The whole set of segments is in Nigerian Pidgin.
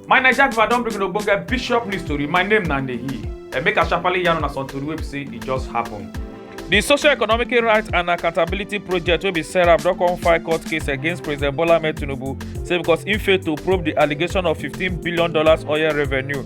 my naija people i don bring una ogbonge bishop news tori my name na ndeyi emeka sharparly yarn una some tori wey be say e just happen. di social economic rights and accountability project wey be serap don come file court case against president bola ahmed tinubu say because im fail to probe di allegation of fifteen billion dollars oil revenue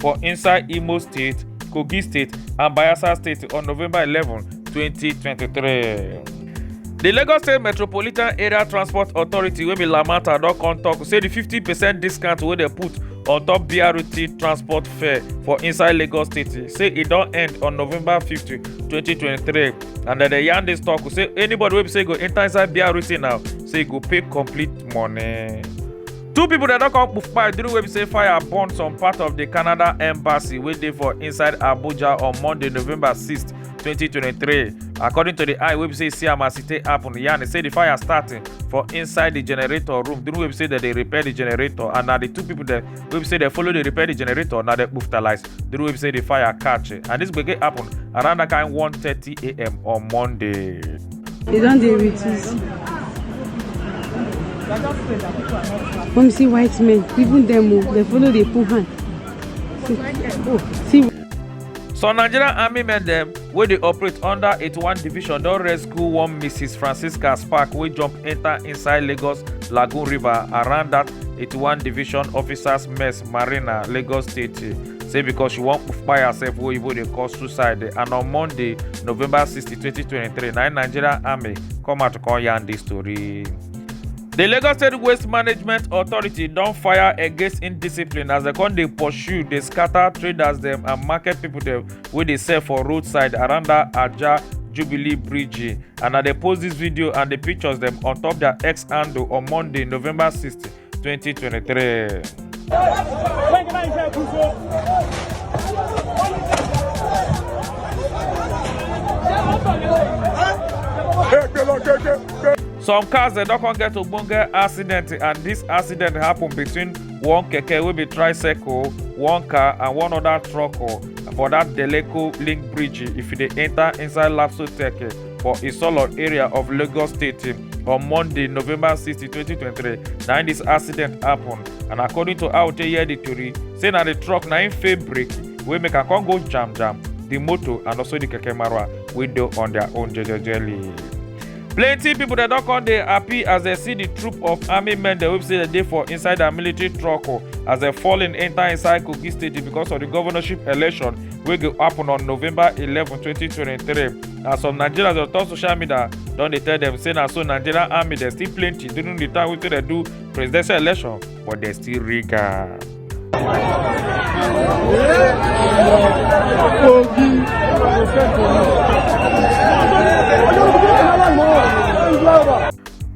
for inside imo state kogi state and bayelsa state on november eleven twenty twenty three. di lagos state metropolitan area transport authority wey be lamata don come tok say di fifty percent discount wey dem put on top brt transport fare for inside lagos state say e don end on november fifty twenty twenty three and dem dey yarn dis tok say anybody wey be say go enta inside brt now say e go pay complete money. two pipo dem don come kpai during wey be say fire burn some part of di canada embassy wey dey for inside abuja on monday november 6 2023 according to di eye wey be say see am as e take happen yarn e say di fire start for inside di generator room during wey be say dem dey repair di generator and na di two pipo dem wey be say dem follow dey repair di generator na dem kpuftalise the road wey be say the fire catch eh. and this gbege happen around that kind 1:30 a.m. on monday. They don't deal with this. Come see white men, even them, oh, they follow the poor hand. See, oh, see. some nigerian army men dem wey dey operate under 81 division don rescue one mrs francisca spark wey jump enta inside lagos lagoon river around dat 81 division officers mess marina lagos state say because she wan kpai herself wey oyibo dey call suicide and on monday november 60 2023 na im nigerian army come out come yarn dis tori. di lagos state waste management authority don fire against indiscipline as dem come dey pursue dey scatter traders dem and market pipo dem wey dey sell for roadside around that Ajah Jubilee Bridge. And na dey post this video and the pictures dem on top their X handle on Monday, November 16, 2023. Some cars dem don come get ogbonge accident and this accident happen between one keke wey be tricycle one car and one other truck oh, for that deleko link bridge if you dey enter inside lapsotech eh, for isolo area of lagos state eh, on monday november 60 2023 na im dis accident happen and according to how tey hear di tori say na di truck na im fail brake wey make am come go jam jam di motor and also di keke marwa wey dey on their own jejely. plenty pipo dem don come dey happy as dem see di troop of army men dem wey say dem dey for inside dia military truck oh, as dem fall in enter inside kogi state because of di governorship election wey go happen on november eleven, twenty twenty three. and some nigerians on top social media don dey tell dem say na so nigerian army dem still plenty during di time wey dem do presidential election but they still rig am.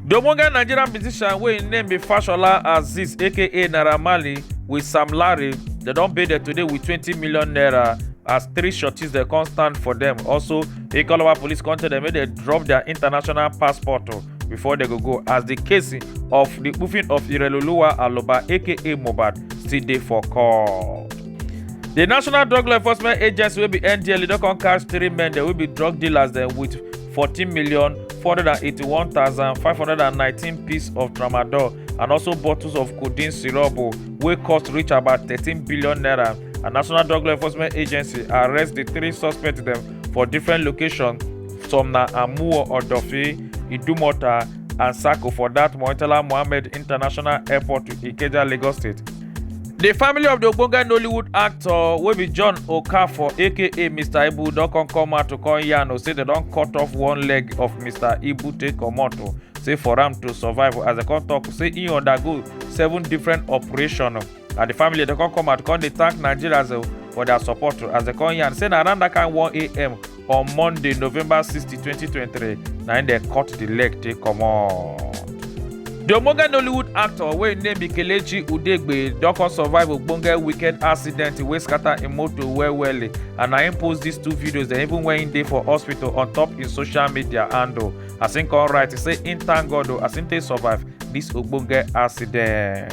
The Omoga Nigerian musician wey im name be Fashola Aziz aka Naira Marley with Sam Larry dem don pay dem today with twenty million naira as three shorties dem come stand for dem. Also, Ikolowa police come tell dem make dem drop their international passport o. before dem go go as di case of di kpufin of ireloluwa aloba aka mohbad still dey for court. di national drug law enforcement agency wey be ndla don come catch three men dem wey be drug dealers dem wit fourteen million four hundred and eighty-one thousand five hundred and nineteen piece of tramadol and also bottles of codeine syrup wey cost reach about thirteen billion naira and national drug law enforcement agency arrest di three suspects dem for different locations some na amuwo odofi idumota and sako for dat moitala mohammed international airport to ikeja lagos state di family of di ogbonge nollywood actor wey be john okafor aka mr ibu don come come out to come yarn o say dem don cut off one leg of mr ibu take comot o say for am to survive as dem come tok say e undergo seven different operations na di family dey come come out come dey thank nigerians eh, for their support as dem come yarn say na around that kind 1am on monday november 60 2023 na im dem cut di leg take comot. di omoge nollywood actor wey im name be kelechi udegbe don come survive ogbonge weekend accident wey scatter im motor well well eh, and na im post dis two videos dem even when im dey for hospital on top im social media handle as im come write say im thank god o as im take survive dis ogbonge accident.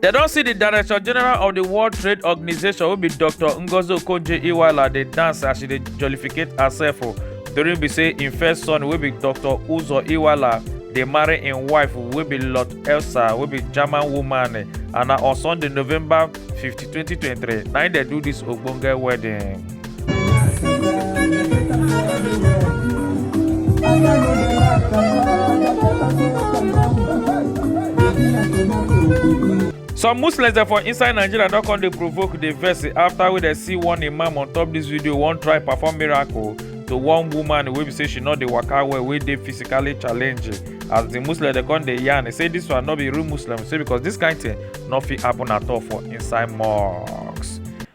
dem don see di director general of di world trade organisation wey be dr ngozi okonjo-iweala dey dance as she dey jollificate herself o oh. during be say im first son wey be dr uzo iweala dey marry im wife wey be lot elsa wey be german woman eh, and na on sunday november 50 2023 na im dem do dis ogbonge wedding. some muslims dem for inside nigeria don come dey provoke dey vex after wey dem see one imam on top dis video wan try perform miracle to one woman wey be say she no dey waka well wey dey physically challenged as di muslim dem come dey yarn say dis one no be real muslim say because dis kain tin no fit happen at all for inside mosque.